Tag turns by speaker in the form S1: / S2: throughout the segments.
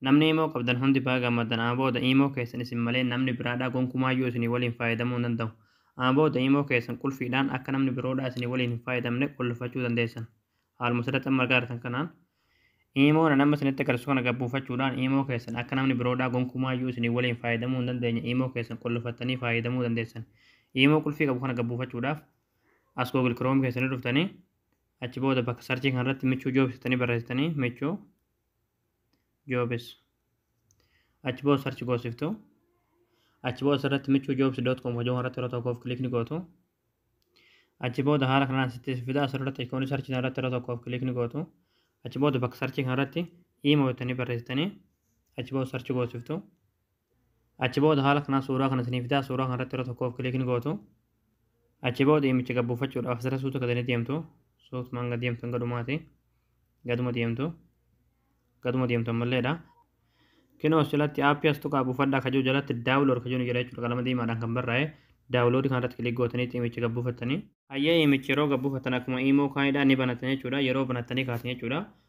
S1: Namni imo qabdan hundi baga gammaddan ama booda imo keessan isin malee namni biraadhaa gonkumaayyuu isinii waliin faayadamuu hin danda'u ama booda imo keessan qulfiidhaan akka namni biroodhaa isinii waliin hin faayadamne qullfachuu dandeessan haaluma sirratti amma argaa jirtan kanaan imo nan amma isinitti agarsisu kana gabbuufachuudhaan imo keessan akka namni biroodhaa gonkumaayyuu isinii waliin faayadamuu hin dandeenye imo keessan qullfattanii faayadamuu dandeessan imo qulfii qabu kana gabbuufachuudhaaf as google chrome keessanii dhuftanii achi booda bakka sarchii kanarratti michuu joobsitanii barreessitanii michuu jobs achi booda sarchi goosiftu achi booda asirratti michuu jobs dot com hojii irratti yeroo tokkoof kilik ni gootu achi booda haala kanaan sitti fida asirratti ikoonii sarchi irratti yeroo tokkoof kilik ni gootu achi booda bakka sarchi kanarratti iima jettanii barreessitanii achi booda sarchi goosiftu Achi booda haala kanaan suuraa kana isinii fidaa suuraa kana irratti yeroo tokkoof kiliik ni gootu. Achi booda iimicha gad buufachuudhaaf asirra suuta gad ni deemtu. Suutumaan gad deemtu hanga dhumaati. Gaduma deemtu. Gaduma deemtu ammalleedha. Kinoo as jalatti aappii as tuqaa buufadhaa kajuu jalatti daawulood kajuu ni jira jechuudha qalama diimaadhaan kan barraa'e. Daawuloodii kana irratti kiliik gootanii iimicha gad buufattanii. Hayyee iimicha yeroo gad buufattan akkuma iimoo kaanidha ni banattan jechuudha. Yeroo banattanii kaatan jechuudha.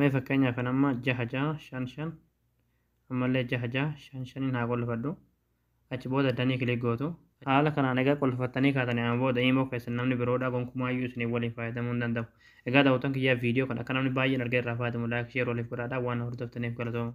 S1: Mee fakkeenyaaf kan amma jaha jaha shan shan ammallee jaha jaha shan shaniin haa qullifadhu. Achi booda danii kilik gootu. Haala kanaan egaa qullifattanii kaatanii amma booda iimoo keessan namni biroodhaa gonkumaayyuu isiniin waliin fayyadamuu hin danda'u. Egaa daawwattoon kiyyaa viidiyoo kana akka namni baay'een argee irraa fayyadamu laayik sheer waliif godhaadhaa waan na hordoftaniif galatooma.